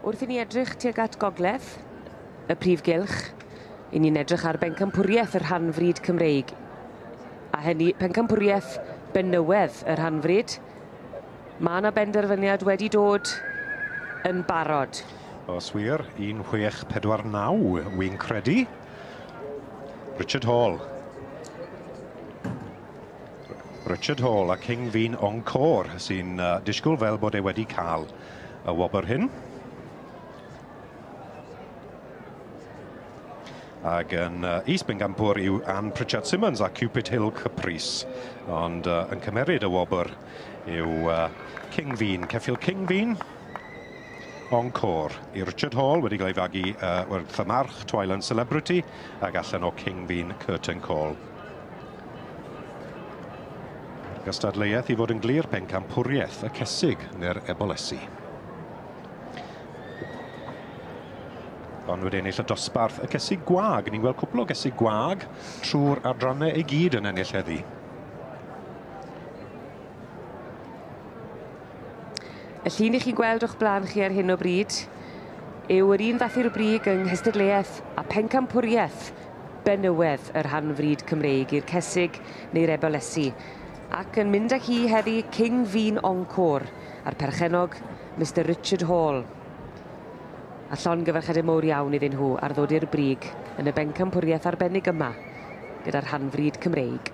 Wrth i ni edrych tuag at gogledd y prif gylch, i ni'n edrych ar bencampwriaeth y rhan fryd Cymreig. A hynny, pencampwriaeth benywedd y rhan fryd. Mae yna benderfyniad wedi dod yn barod. Os wir, 1649 wy'n credu. Richard Hall. Richard Hall a King Fi'n Encore sy'n uh, disgwyl fel bod e wedi cael y wobr hyn. Ac yn uh, East Bengampur yw Anne Pritchard Simmons a Cupid Hill Caprice. Ond uh, yn cymeryd y wobr yw uh, King Fi'n, Ceffil King Fi'n. Encore i Richard Hall wedi cael ei fagu uh, wrth y march Twyland Celebrity ac allan o Cingfin Curtain Call. Mae'r gystadleuaeth i fod yn glir pencampwriaeth y cesig neu'r ebolesi. ond wedi ennill y dosbarth y cesig gwag. Ni'n gweld cwpl o gesig gwag trwy'r adrannau i gyd yn ennill heddi. Y llun i chi'n gweld o'ch blaen chi ar hyn o bryd yw yr un fath i'r brig yng nghystadleuaeth a phencampwriaeth benywaidd y rhan fryd Cymreig i'r Cesig neu'r Ebalesi, ac yn mynd â hi heddi King Vin Encore a'r perchennog Mister Richard Hall. A llongyfarchiadau mowr iawn iddyn nhw ar ddod i'r brig yn y bencampwriaeth arbennig yma gyda'r rhan fryd Cymreig.